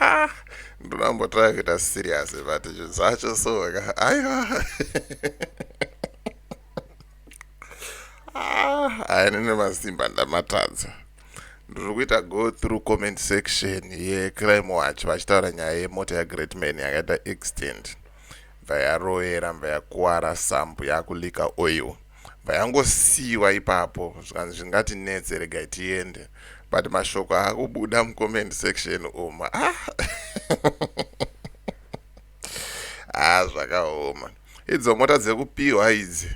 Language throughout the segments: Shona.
ah, ndinambotanga kuita serious but zvinhu zvacho soka aiwa haine nemasimba ndamatadza ndiri kuita go through comment section yecrime watch vachitaura nyaya yemota yagreat man yakaita extent ya Mva yarovera mva yakuwara sambo yaku leaker oil mva yangosiiwa ipapo zvikanzi zvingati netse regai tiende but mashoko akubuda mu comment section umu ah ah zvakaoma idzo mota dzekupihwa idzi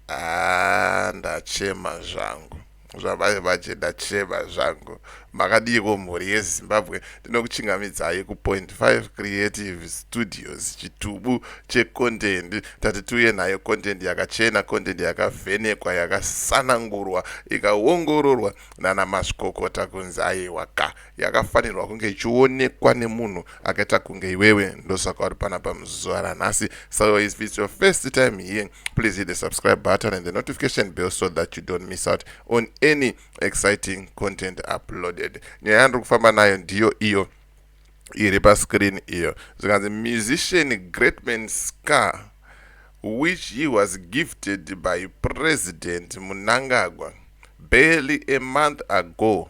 ah ndachema zvangu Zvamai vachena chema zvangu. Makadiiko mhuri yeZimbabwe ndinokuchingamidzai ku point five creative studios chitubu che content tati tiuye nayo content yakachena content yakavhenekwa yakasanangurwa ikaongororwa nana mazvikokota kunzi aiwa ka yakafanirwa kunge ichionekwa nemunhu akaita kunge iwewe ndosaka uri panapa muzuva ranhasi so if its your first time here please hit the subscribe button and the notification bell so that you don't miss out on any exciting content uploaded nyaya yandiri kufamba nayo ndiyo iyo iri pascreen iyo zvikanzi musician greatman scar which he was gifted by president munangagwa barely a month ago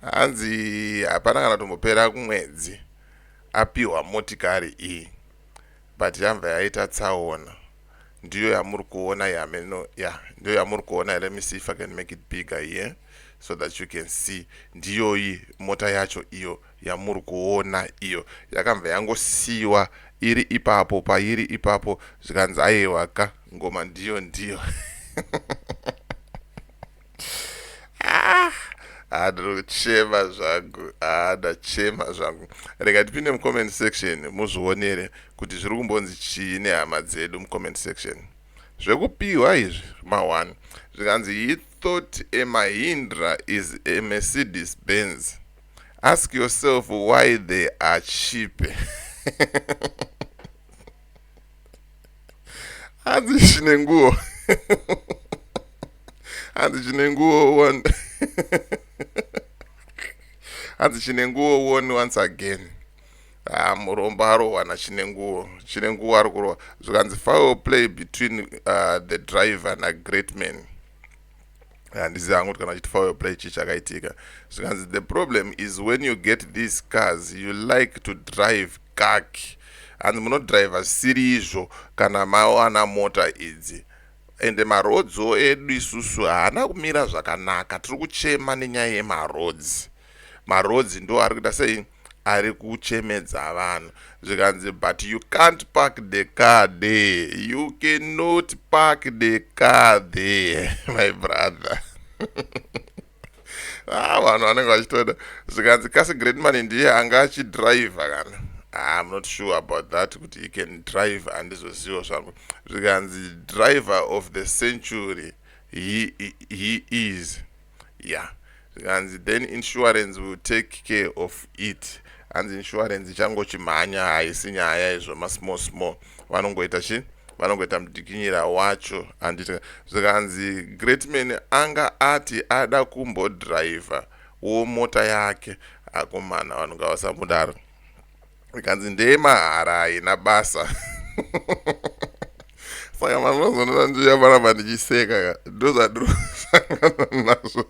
Hanzi hapana kana tombopera kumwedzi apiwa motikari iyi but yamva yaita tsaona ndiyo yamuri kuona yameno ya ndiyo yamuri kuona let me see if i can make it bigger here so that you can see ndiyoyi mota yacho iyo yamuri kuona iyo yakamva yangosiyiwa iri ipapo pairi ipapo zvikanzi aiwa ka ngoma ndiyo ndiyo Ah, ah, ndinochema zvangu ah, ndachema zvangu rega ndipinde mucomment section muzvionere kuti zviri kumbonzi chii nehama dzedu mucomment section zvekupiwa izvi maone zvikanzi he thought a mahindra is a mercedes benz ask yourself why they are cheape hanzi chine nguo hanzi chine nguo one hanzi chine nguo one once again ha ah, muromba arohwana chine nguo chine nguo ari kurohwa zvikanzi foul play between uh, the driver nagreat man handiziva hangu kuti kana chiti fire play chii chakaitika zvikanzi the problem is when you get these cars you like to drive kak hanzi munodriver siri izvo kana mawana mota idzi ende marodzo edu isusu haana kumira zvakanaka tiri kuchema nenyaya yemarodzi marodzi ndo ari kuita sei ari kuchemedza vanhu zvikanzi but you can't park the car there you cannot park the car there my brother ah vanhu vanenge vachitoda zvikanzi kasi great money ndiye anga achidriver kana ah, i'm not sure about that kuti he can drive handizozivo zvangu zvikanzi driver of the century he, he, he is Yeah zvikanzi then insurance will take care of it hanzi insurance ichangochimhanya haisi nyaya izvo masmall small vanongoita chi vanongoita mudikinyira wacho handiti zvikanzi greatman anga ati ada kumbodriver wo mota yake akomana vanhu ngavasamudaro ikanzi ndeye mahara haina basa saka mazvazonona ndiyavaramba ndichiseka ka ndozvadirosangana nazvo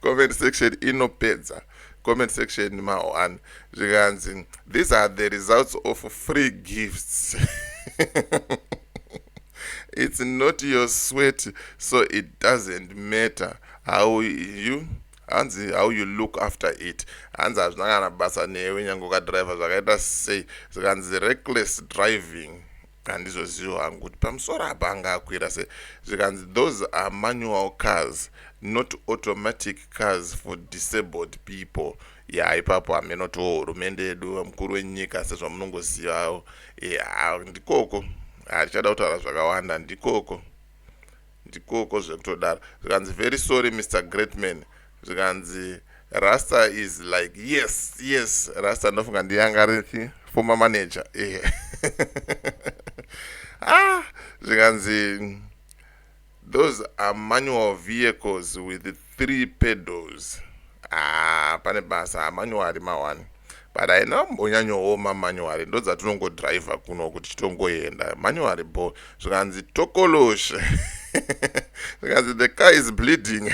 comment section inopedza comment section ma1 zvikanzi these are the results of free gifts it's not your sweat so it doesn't matter how you Hanzi how you look after it hanzi hazvina kana basa newe nyange ukadriver zvakaita sei zvikanzi reckless driving handizozivi hangu kuti pamusoro apa anga akwira se zvikanzi those are manual cars not automatic cars for disabled people ya ipapo hameno to hurumende yedu vamukuru wenyika sezvamunongozivawo ya ndikoko hatichada kutaura zvakawanda ndikoko Ndikoko zvekutodaro zvikanzi very sorry Mister Greatman zvikanzi Rasta is like yes yes Rasta ndofunga ndiyanga rithi former manager ehe ah zvikanzi those are manual vehicles with three pedals ah, pane basa ah, manyowari mawani but haina mbonyanyooma manyowari ndo dzatinongodriver kuno kuti titongoenda manyowari bo zvikanzi tokoloshe zvikanzi the car is bleeding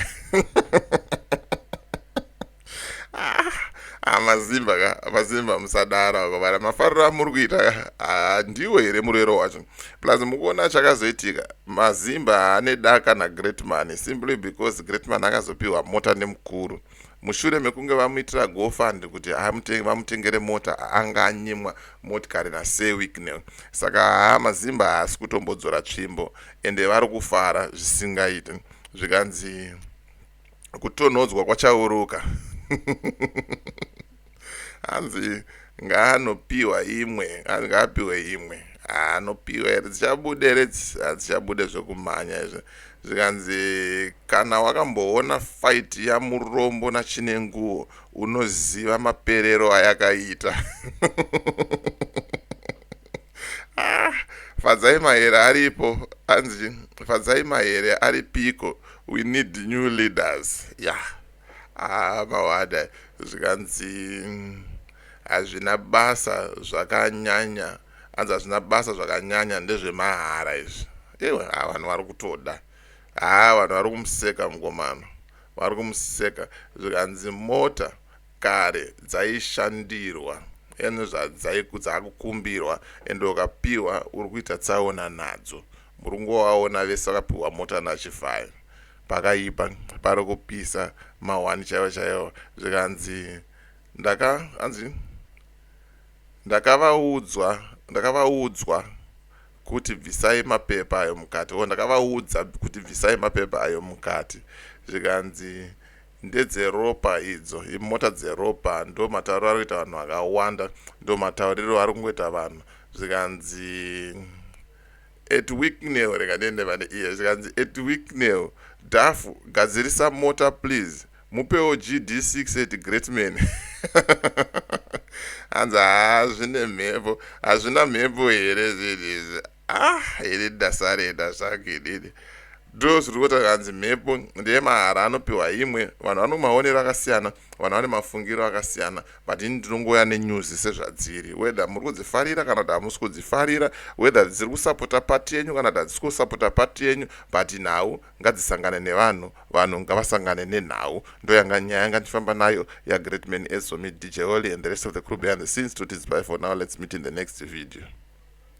amazimba ah, ka amazimba musadara ko vana mafariro amuri kuita ah, ndiwo here murero wacho Plus mukuona chakazoitika mazimba haane daka nagreat money simply because great money akazopiwa mota nemukuru mushure mekunge vamuitira gofund kuti vamutengere mota anga anyimwa motikari nasewicknel saka haa mazimba haasi kutombodzora tsvimbo ende vari kufara zvisingaiti zvikanzi kutonhodzwa kwachauruka hanzi ngaanopiwa imwe ngaapiwe imwe anopiwa here dzichabude here hadzichabude zvekumhanya izvi zvikanzi kana wakamboona fight yamurombo nachine nguo unoziva maperero ayakaita ah, fadzai mahere aripo hanzi fadzai mahere ari piko we need new leaders ya yeah. ah, mawada zvikanzi hazvina basa zvakanyanya hanzi hazvina basa zvakanyanya ndezvemahara izvi iwe ah, vanhu vari kutoda haa ah, vanhu vari kumuseka mngomano vari kumuseka zvikanzi mota kare dzaishandirwa and dzaakukumbirwa and ukapiwa uri kuita tsaona nadzo muri kungovaona vese vakapiwa mota nachivhayo pakaipa pari kupisa mahwani chaivo chaivo zvikanzi ndaka anzi ndakavaudzwa ndakavaudzwa kuti bvisai mapepa ayo mukati o ndakavaudza kuti bvisai mapepa ayo mukati zvikanzi Ndedzeropa idzo imota dzeropa ndomatauriro ari kuita vanhu vakawanda ndomatauriro ari kungoita vanhu zvikanzi at weeknail rega ndiende pane iye zvikanzi at weeknail dhafu gadzirisa mota please mupewo gd6 at greatman hanzi haa zvine mhepo hazvina mhepo here zvinhu izvi ah ini ndasarenda zvangu inini ndo zviri kuita kanzi mhepo ndeye mahara anopiwa imwe vanhu vane maonero akasiyana vanhu vane mafungiro akasiyana but ini ndinongouya nenyuzi sezvadziri whether muri kudzifarira kana kuti hamusi kudzifarira whether dziri kusapota pati yenyu kana kuti hadzisi kusapota pati yenyu but nhau ngadzisangane nevanhu vanhu ngavasangane nenhau ndo yanga nyaya yanga ndichifamba nayo yagreat man ezomi dj holy and the rest of the crew behind the scenes to tidzibye for now let's meet in the next video